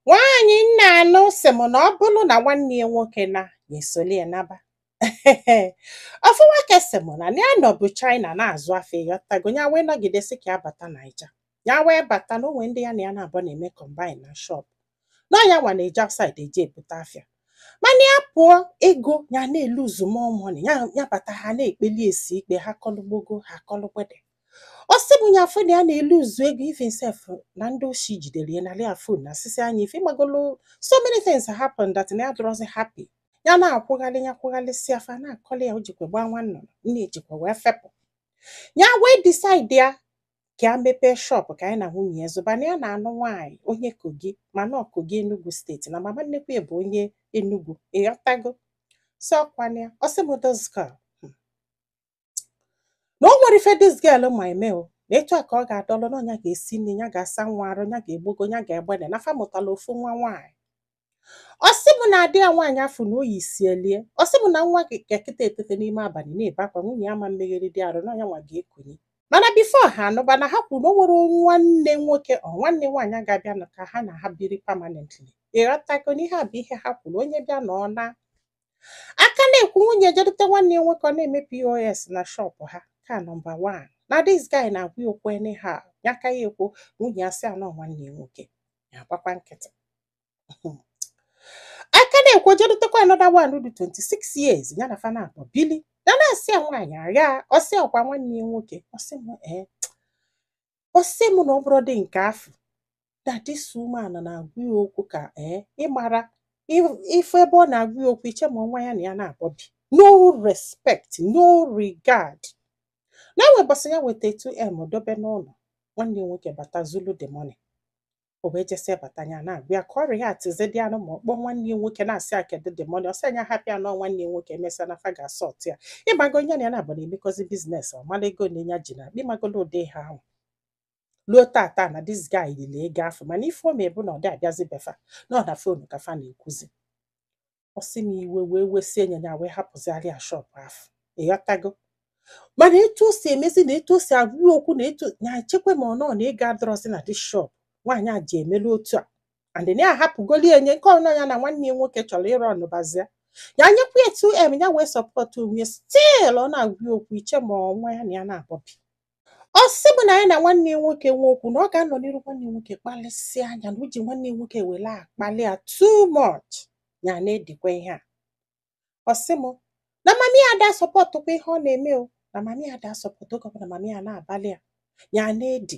Nwaanyị m na-anụ sị m na ọ bụrụ na nwanne ya nwoke naa ya esoli ya naba. Ofu nwoke sị m na ya nọbu China na-azụ afịa ịghọtago ya wee nọgide sị ka ya bata Naija. Ya wee bata na o nwee ndị ya na ya naabọ na-eme combine na shop. Na ya nwa na-eje outside eje ebute afịa. Mana ya pụọ ego ya na-eluzu more money ya bata ha na-ekpeli esi ikpe ha kọlụ gbogo ha kọlụ gbede. ọ sị m ya afụ na ya na-eluzu ego even sef na ndị oshi jidere ya narị ya phone nasịsịa nya ife ịmagolo so many things happen that na ya adịrọzi happy ya na-akwụgharị ya kwụgharịsịa fa na-akọli ya o jikwa gbaa nwa nnụnụ nne ya jikwa wee fepụ ya wee decidie ka ya mepee shọpụ ka nya na nwunye ya zụba na ya na-anụ nwaanyị onye Kogi mana ọ Kogi Enugu steeti na mama nnukwu ya bụ onye Enugu ịghọtago so ọkwa na ya ọ sị m those girl na o nwerọ ife dis girl ma eme o na etu a ka ọ ga-adọlụ na ọ nya ga-esi nni ya ga-asa nwa arụ ya ga-egbogo ya ga-egbede na fa mụtala ofu nwa nwaanyị ọ sị m na adị ya nwaanyị afụ na oyi sielie ọ sị m na nwa ga-eteta eteta n'ime abalị na-ebe akwa nwunye ya ama emegharịdị arụ na ọ nya nwa ga-ekunie mana bifo ha anụba na ha kwuru na o nwerọ nwanne nwoke or nwanne nwaanyị ga-abịa nọ ka ha na ha biri pamanentli ịghọtago na ihe a bụ ihe ha kwuru onye bịa na ọ naa a ka na-ekwu nwunye ya je dute nwanne ya nwoke ọ na-eme pos na shọpụ ha ka nọmba wan na dis guy na-agwa ya okwu anyhow ya ka ya-ekwu nwunye ya sị ya na ọ nwanne ya nwoke ya agbakwa nkịtị a ka na-ekwu je dutekwa anọda wan dị 26 years ya na fa naabọ bili ya na-asị ya nwaanyị a ọ sị ọkwa nwanne ya nwoke ọ sị m ee ọ sị m na ọ bụrọdị nke afụ na this woman na-agwa ya okwu ka ee eh, ị mara ife ebe ọ na-agwa ya okwu i chee ma ọ nwa ya na ya naabọ bi no respect no regard na e nwee ụbọsị ya weta 2m dobe n'ụlọ nwanne ya nwoke bata zulu the money o wee jesie bata nya na-agwa ya ka ọ rị ya atizi dị anụ ma ọ kpọọ nwanne ya nwoke na-asị ya kedu the money ọ sị nya hapụ ya na ọ nwanne ya nwoke e mesịa na fa ga-asọt ya ịmago onye ya na ya naabọ na-emekọzi biznes ọ mara ego nine ya ji n'akpa ịmagolo ụdị ihe ahụ luo tata na dis guy lili ego afụ mana ife o me bụ na ọ dị abịazi be fa na ọ na fonu ka fa na-ekwuzi ọ sị m iwe wee wesie nya nya wee hapụziarị ya shọp afụ ịghọtago mana etu o si emezi na etu o si agwa ya okwu na etu nya echekwa ma ọ nọ na ego adịrọzi na dis shọp nwaanyị a ji emelu otu a and na ya ahapụgoli enye nke ọnọ ya na nwanne ya nwoke chọrọ ịrụ ọnụbazia ya nyekwa ya 2m ya wee sọpọtụ onwe ya stil ọ na-agwa ya okwu i chee ma ọ nwa ya na ya naabọ bi Ọ sị m na ya na nwanne ya nwoke nwee okwu na ọ ga-anọ n'iru nwanne ya nwoke kpalịsịa nya na o ji nwanne ya nwoke wele akpalị ya too much ya na-edikwa ihe a ọ sị m na mami ya ada asọpọtụkwa ihe ọ na-eme o na mami ya ada asọpọtụ oge ọbụla mami ya na-abalị ya ya na-edi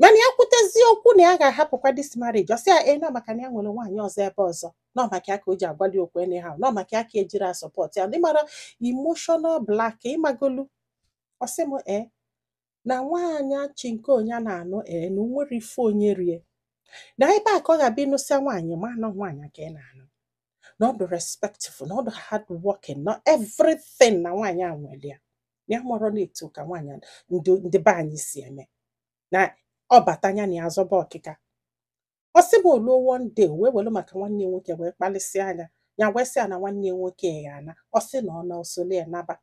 mana ya kwutezie okwu na ya ga-ahapụkwa this marriage ọ sị ya nọ maka na ya nwere nwaanyị ọzọ ebe ọzọ nọ maka ya ka o ji agwali okwu anyhow nọ maka ya ka ejiri asupport ya ị mara emotional black ịmagolu ọ sị m ee na nwaanyị chinko ya na-anụ ee na o nwere ife onye rie na ebe a ka ọ ga-abịa ị nụsịa nwaanyị ma na ọ nwaanyị ka ị na-anụ na ọ dị respectful na ọ dị hard working na everything na nwaanyị a nwere ya na ya amarọ na etu ka nwaanyị a- ndị ndị be anyị si eme na ọ bata anya na ya zọba ọkịka ọ sị m o luo one day wee welu maka nwanne ya nwoke wee kpalịsịa ya ya wee sị ya na nwanne ya nwoke ga-ana ọ sị na ọ na o solu ya naba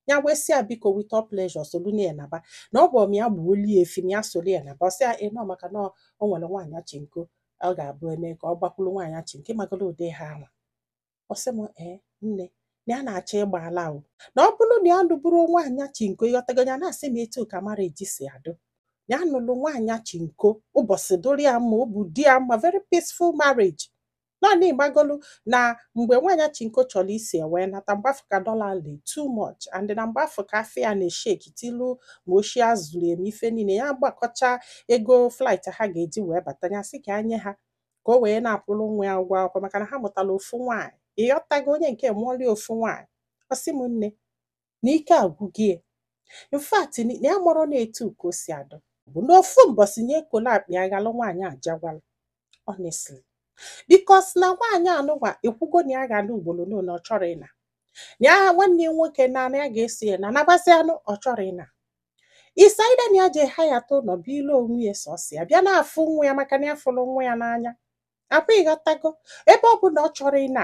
ya wee sị ya biko with all pleasure solu na ya naba na ọ bụ m ya gbuolu ya efi na ya solu ya naba ọ sị ya nọ maka na o nwere nwaanyị chinko ọ ga-abụ eme ka ọ gbakwuru nwaanyị chinko ịmagolu ụdị ihe ahụ ọ sị m ee nne na ya na-achọ ịgba ala o na ọ bụrụ na ya nụburu nwaanyị chinko ịghọtago ya na-asị m etu ka marriage si adụ ya nụlụ nwaanyị chinko ụbọchị dụrụ ya mma obi dị ya mma very peaceful marriage naanị ịmagolu na mgbe nwaanyị chinko chọrọ isi ewee nata mgbe afụ ka dollar dị too much and na mgbe afụ ka afịa na-esheki tilu ma oshi e zuru eme ife niile ya gbakọcha ego flight ha ga-eji wee bata ya sị ka ya nye ha ka o wee na-akwụrụ nwa ya ụgwọ akwụkwọ maka na ha mụtara ofu nwaanyị ịghọtago onye nke mụọli ofu nwaanyị ọ sị m nne na ike agwụgo ya in fact na ya amarọ na etu ka o si adụ bụ na ofu mbọsị ya ekolo akpa ya ghalụ nwaanyị a jagwala honestly because na nwaanyị anụwa ekwugo na ya ga-ana ugboro na ọ chọrọ ịna na ya nwanne ya nwoke na ya ga-eso ya na nabazianụ ọ chọrọ ịna besides na ya je hireta ụlọ bili onwe ya sọsọ ya bịa na-afụ nwa ya maka na ya fụrụ nwa ya n'anya ọkwa ịghọtago ebe ọ bụ na ọ chọrọ ịna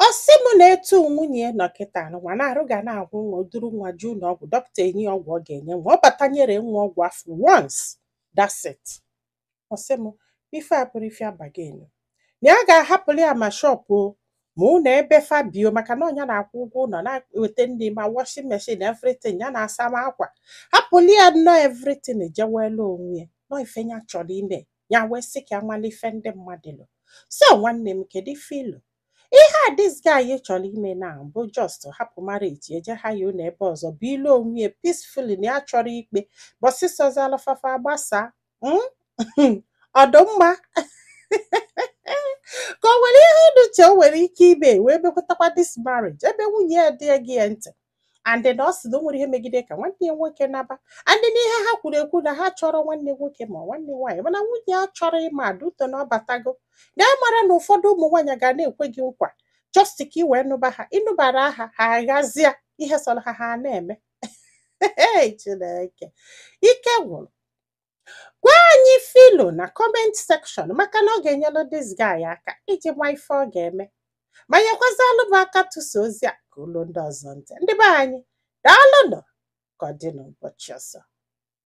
ọ sị m na etu nwunye ya nọ kịta nwa na-arịa ya na-ahụ nwa duru nwa je ụnọ ọgwụ dọkịta enye ọgwụ ọ ga-enye nwa ọ bata nyere nwa ọgwụ afụ once that's it ọ sị m ife a bụrụ ife abaghị elu na ya ga-ahapụrụ ya ma shọpụ o ma ụlọ ebe fa bi o maka na ọ ya na-akwụ ụgwọ ụlọ na-eweta ndị ma washing machine everything ya na-asa ma akwa hapụrụ ya nnọọ everything jewelu onwe ya nọ ife ya chọrọ ime ya wee sị ka a malụ ife ndị mmadụ lo so nwanne m kedu ife i lo ihe a this guy chọrọ ime na bụ just hapụ marriage je hire ụlọ ebe ọzọ bili onwe ya peacefully na ya achọrọ ikpe ụbọsị sọzili fa fa gbasaa mm? ọ dụ mma ka o nwere ihe unu che o nwere ike ime wee mekwatakwa this marriage ebe nwunye ya adịghị ege ya ntị and na ọ sị na o nwere ihe megide ka nwanne ya nwoke naba and n'ihe ha kwuru ekwu na ha achọrọ nwanne nwoke ma nwanne nwaanyị mana nwunye ya achọrọ ịma due to na ọ batago na ya mara na ụfọdụ ụmụ nwaanyị ga na-ekwe gị nkwa just ka ị wee nụba ha ị nụbara ha ha aghazie ihe sọrọ ha ha na-eme Ee, Chineke ike gwụrụ gwa anyị ife i lo na comment section maka na ọ ga-enyelụ this guy aka iji ma ife ọ ga-eme ma nyekwazalụ m aka tụsa ozi a ka o luo ndị ọzọ ntị ndị be anyị daalụnụ ka ọ dị n'ụbọchị ọzọ